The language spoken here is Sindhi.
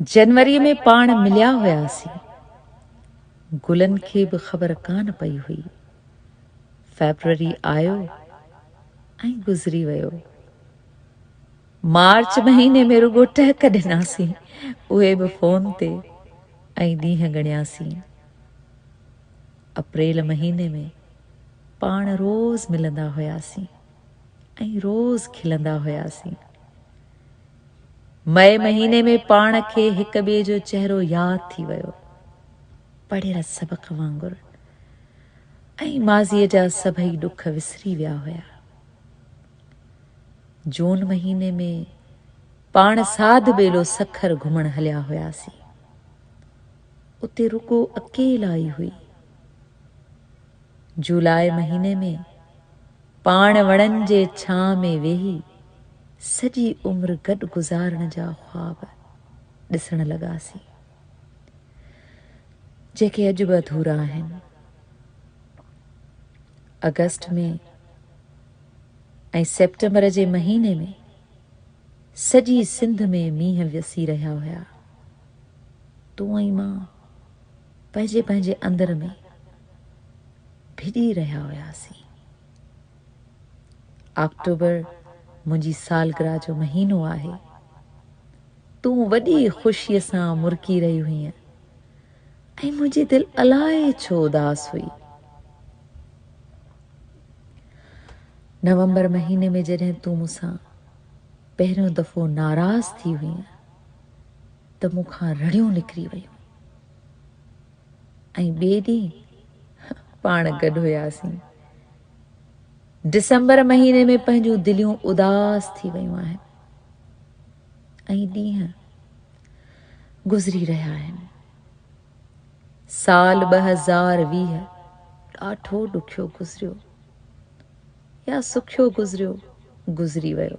جنوريء ۾ پاڻ مليا هياسين. گلن کي به خبر ڪانه پئي هئي. فيبروري آيو ۽ گذري ويو. مارچ مهيني ۾ رڳو ٽهڪ ڏناسين، اهي به فون تي ۽ ڏينهن ڳڻياسين. اپريل مهيني ۾ پاڻ روز ملندا هياسين. ۽ روز کلندا هياسين. مئي مهيني ۾ پاڻ کي هڪ ٻئي جو چهرو ياد ٿي ويو. پڙهيل سبق وانگر ۽ ماضيء جا سڀئي ڏک وسري ويا هيا. جون مهيني ۾ پاڻ ساڌ ٻيلو سکر گهمڻ هليا هياسين. اتي رڳو اڪيلائي هئي. جولاء مهيني ۾ پاڻ وڻن جي ڇانء ۾ ويهي سڄي عمر گڏ گذارڻ جا خواب ڏسڻ لڳاسين، جيڪي اڄ به اڌورا آهن. آگسٽ ۾ ۽ سيپٽمبر جي مهيني ۾ سڄي سنڌ ۾ مينهن وسي رهيا هيا. تون ۽ مان پنهنجي پنهنجي اندر ۾ ڀڄي رهيا هياسين. آڪٽوبر منهنجي سالگرهه جو مهينو آهي. تون وڏي خوشيء سان مرڪي رهي هئين ۽ منهنجي دل الائي ڇو اداس هئي. نومبر مهيني ۾ جڏهن تون مون سان پهريون دفعو ناراض ٿي هئين، ته مون کان رڙيون نڪري ويون ۽ ٻئي ڏينهن پاڻ گڏ هياسين. ڊسمبر مهيني ۾ پنهنجون دليون اداس ٿي ويون آهن ۽ ڏينهن گذري رهيا آهن. سال ٻه هزار ويهه ڏاڍو ڏکيو گذريو يا سکيو گذريو گذري ويو